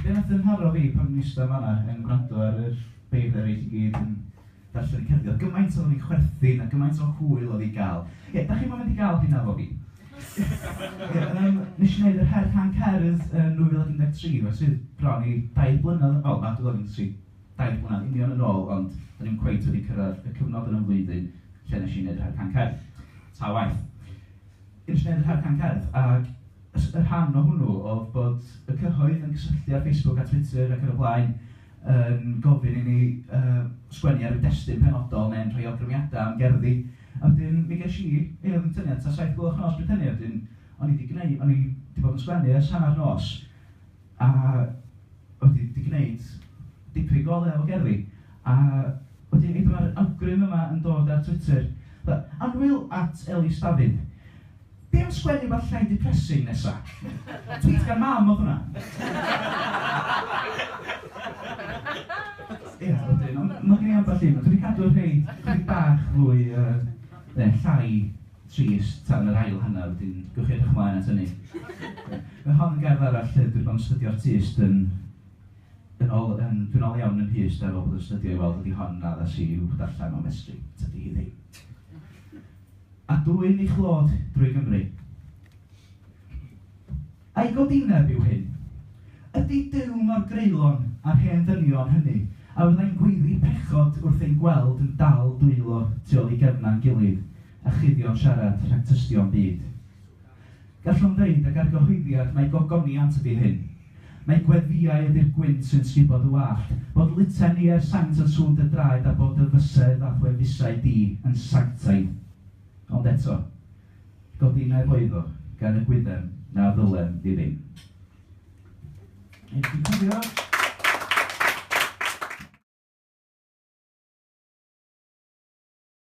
Be wnaeth dymharo fi pan o'n i'n eistedd fan'na yn gwrando ar yr beirdd eraill i gyd yn darllen y cerddi oedd gymaint oedd o'n i'n chwerthin a gymaint o hwyl oedd i gael. Ie, dach chi'm yn mynd i gael hynna efo fi. Ie, yym, nes i wneud yr her rhan cerdd yn 2013, felly bron i dair blynedd yn ol, na, 2013. Daeth hwnna'n union yn ôl ond o'n i'm cweit wedi cyrraedd y cyfnod yn 'y mhlwyddyn lle nes i neud yr Harcan Cerdd. Ta waeth. Nes i neud yr Harcan Cerdd ag y rhan o hwnnw o'dd bod y cyhoedd yn cysylltu ar Facebook a Twitter ac yn y blaen yn gofyn i ni yy sgwennu ar ryw destun penodol neu'n rhoi awgrymiada am gerddi a wedyn mi gesh i yy o'dd yn tynnu at ta saith y gloch nos pryd hynny a wedyn o'n i 'di gneu- o'n i 'di bod yn sgwennu ers hannar nos. a bod hi 'di gwneud dipyn go lew o gerddi, a wedyn hyd yma yr awgrym yma yn dod ar Twitter, Annwyl at Ellis Dafydd, be am sgwennu wbath llai depressing nesa? Tweet gan mam oedd hwnna. Ia, wedyn, ond ma' gen i ambell un, dwi 'di cadw rhei chydig bach fwy yy ne llai. trist tan yr ail hanner, wedyn gewch chi edrych ymlaen at hynny. Mae hon yn gerdd arall lle dwi 'di bod yn stydio artist yn yn ol yn dwi'n ol iawn yn Mhys de ar ôl bod yn stydio i weld ydi hon na ddas i i'w darllen o Mestri, tydi hi ddim. A dwyn ei chlod drwy Gymru. Ei godineb yw hyn. Ydy Duw mor greulon â'r hen ddynion hynny a fyddai'n gweiddi pechod wrth ein gweld yn dal dwylo tu ôl i gefnau'n gilydd a chuddio'n siarad rhag tystio'n byd? Gallwn ddeud ag argyhoeddiad mai gogoniant ydy hyn. Mai gweddïau ydy'r gwynt sy'n sgubod y wallt, bod lute'n ie'r saint yn sŵn dy draed a bod dy fysedd a thwefusau di yn sanctaidd. Ond eto, Godineb oeddo gan y gwyddem na ddylem i ddim. Wnei di cofio?